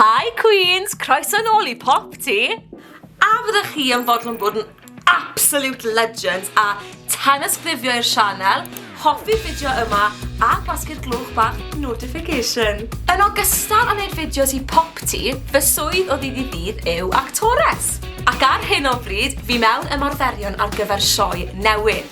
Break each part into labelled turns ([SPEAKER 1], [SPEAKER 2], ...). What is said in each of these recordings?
[SPEAKER 1] Hi Queens! Croeso nôl i Popty! A fyddech chi yn fodlon bod yn absolute legends a tanysgrifio i'r sianel, hoffi'r fideo yma a gwasgu'r glwch bach notification. Yn ogystal â wneud fideos i Popty, fy swydd o ddydd i ddydd yw actores. Ac ar hyn o bryd, fi mewn ymarferion ar gyfer sioe newydd.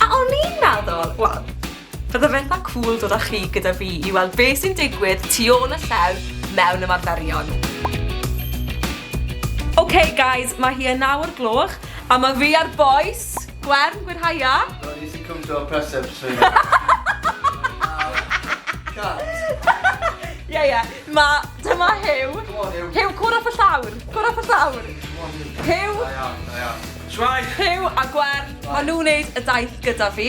[SPEAKER 1] A o'n i'n meddwl, wel, Bydde fetha cŵl dod â chi gyda fi i weld be sy'n digwydd tu ôl y llew mewn ymarferion. Ok guys, mae hi yn naw o'r gloch a mae fi a'r bois, Gwern, Gwyrhaia. Wel nes i cwmpo
[SPEAKER 2] o'r preseps trwy hyn. Cut.
[SPEAKER 1] Ie ie, mae, dyma Huw. Come on Huw. Huw, cwrdd
[SPEAKER 2] off y llawr,
[SPEAKER 1] cwrdd off y llawr. Come on Huw. Huw.
[SPEAKER 2] Da iawn, da iawn. Shwmae! Huw a
[SPEAKER 1] Gwern, maen nhw'n wneud y daith gyda fi.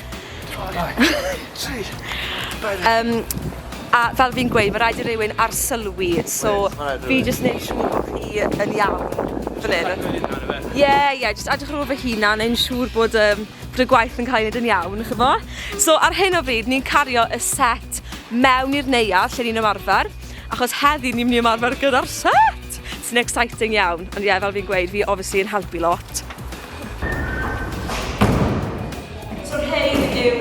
[SPEAKER 1] Yym, a fel fi'n gweud, ma' raid i rywun arsylwi, so fi jyst neud siŵr bo' chi yn iawn fan 'yn. Jyst edrych ar fy hunan ife? Ie ie, jyst edrych ar ôl fy hunan, neud yn siŵr bod yym bod y gwaith yn ca'l 'i neud yn iawn, ch'mo'? So ar hyn o bryd ni'n cario y set mewn i'r neuadd lle ni'n ymarfer, achos heddi ni myn' i ymarfer gyda'r set! Sy'n exciting iawn, ond ie fel fi'n gweud fi obviously yn helpu lot. So rhein yw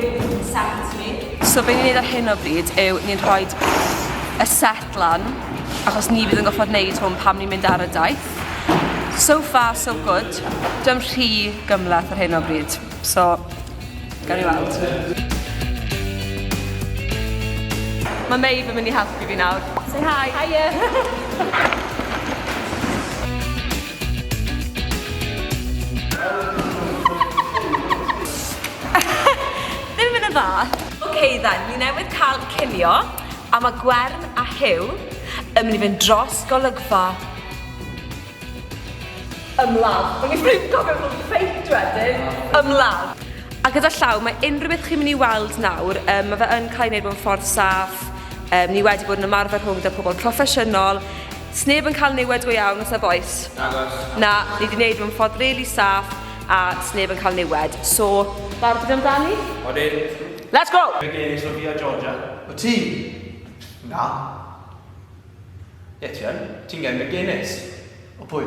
[SPEAKER 1] set ni. So be ni'n neud ar hyn o bryd yw ni'n rhoi y set lan, achos ni fydd yn goffod neud hwn pam ni'n mynd ar y daith. So far, so good. Dyna'n rhy gymleth ar hyn o bryd. So, gawn ni weld. Mae Maeve yn mynd i helpu fi nawr. Say hi! Hiya! Ddim yn y fath! Ok then, ni newydd cael cinio a mae Gwern a Huw yn mynd i fynd dros golygfa ymladd. O'n i ddim yn cofio bod yn fake wedyn! Ymladd! A gyda llaw, mae unrhyw beth chi'n mynd i weld nawr, um, mae fe yn cael ei wneud mewn ffordd saff, um, ni wedi bod yn ymarfer rhwng da pobl proffesiynol, Sneb yn cael niwed go iawn os ef oes? Nagos. Na, ni di neud fy mffordd rili saff a sneb yn cael niwed, so barod amdani? Odin.
[SPEAKER 3] Let's go! Be
[SPEAKER 1] gen i Sofia Georgia?
[SPEAKER 3] Wyt ti?
[SPEAKER 2] Na.
[SPEAKER 3] Ie ti yn. Ti'n gen McGuinness. O pwy?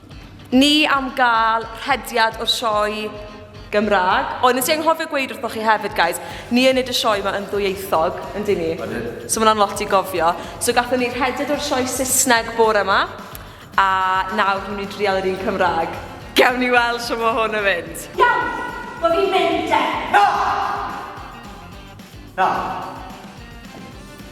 [SPEAKER 1] Ni am gael rhediad o'r sioe Gymraeg, ond nes i anghofio gweud wrthoch chi hefyd, guys, ni yn neud y sioe yma yn ddwyieithog, yn dyn ni? Odyn. So mae hwnna'n lot i gofio. So gatho ni rhediad o'r sioe Saesneg bore yma, a nawr ni'n mynd i drial yr un Cymraeg. Gewn ni weld shwt mae hwn yn mynd. Iawn, wel fi'n mynd de. Na!
[SPEAKER 2] Na!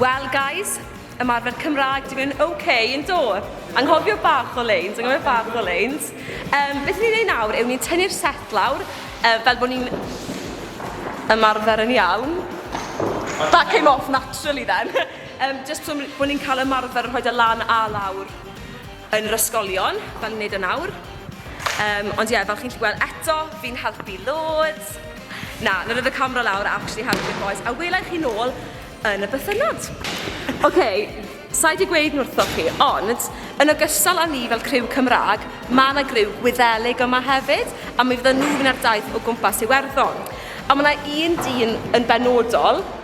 [SPEAKER 1] Well guys, ymarfer Cymraeg, dwi'n mynd ok, yn do? Anghofio bach o leins, anghofio bach o leins. Um, beth ni'n ei nawr yw ni'n tynnu'r set lawr, uh, fel bod ni'n ymarfer yn iawn. That came off naturally then. um, just so bod ni'n cael ymarfer rhoi dy lan a lawr. yn yr ysgolion, fel ni'n neud yn awr. Yym, ond ie, fel chi'n gallu gweld eto, fi'n helpu loads. Na, na rhoi fy camera lawr a actually helpu'r bois, a wela i chi nôl yn y bythynnod. OK, sai di gweud nwrthoch chi, ond yn ogystal â ni fel criw Cymrag, ma' na griw Gwyddelig yma hefyd, a mi fydda nhw fynd ar daith o gwmpas Iwerddon. A ma' na un dyn yn benodol,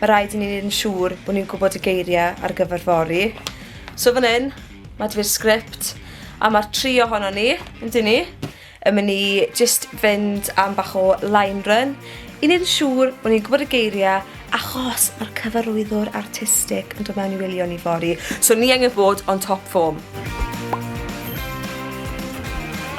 [SPEAKER 1] Mae rhaid i ni wneud yn siŵr bod ni'n gwybod y geiriau ar gyfer fory. So fan hyn, mae dy fi'r sgript, a mae'r tri ohono ni, yn dyn ni, yn mynd i just fynd am bach o line run, i wneud yn siŵr bod ni'n gwybod y geiriau, achos mae'r cyfarwyddwr artistig yn dod mewn i wylio ni fory. So ni angen bod on top form.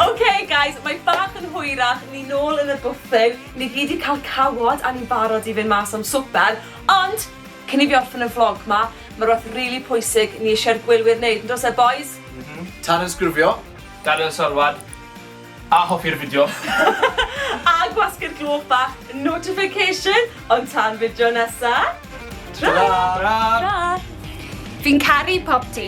[SPEAKER 1] OK guys, mae bach yn hwyrach, ni nôl yn y bwthyn. Ni gyd di cael cawod a ni'n barod i fynd mas am swper, ond cyn i fi orffen y vlog ma, ma rwbeth rili pwysig ni isie'r gwylwyr neud, yn does e bois? M-hm. Tanysgrifio.
[SPEAKER 2] Gadael
[SPEAKER 3] sylwad. A hoffi'r fideo. A
[SPEAKER 1] gwasgu'r gloch bach notification, ond tan fideo nesa. Tara! Tara! Fi'n
[SPEAKER 3] caru
[SPEAKER 1] popty.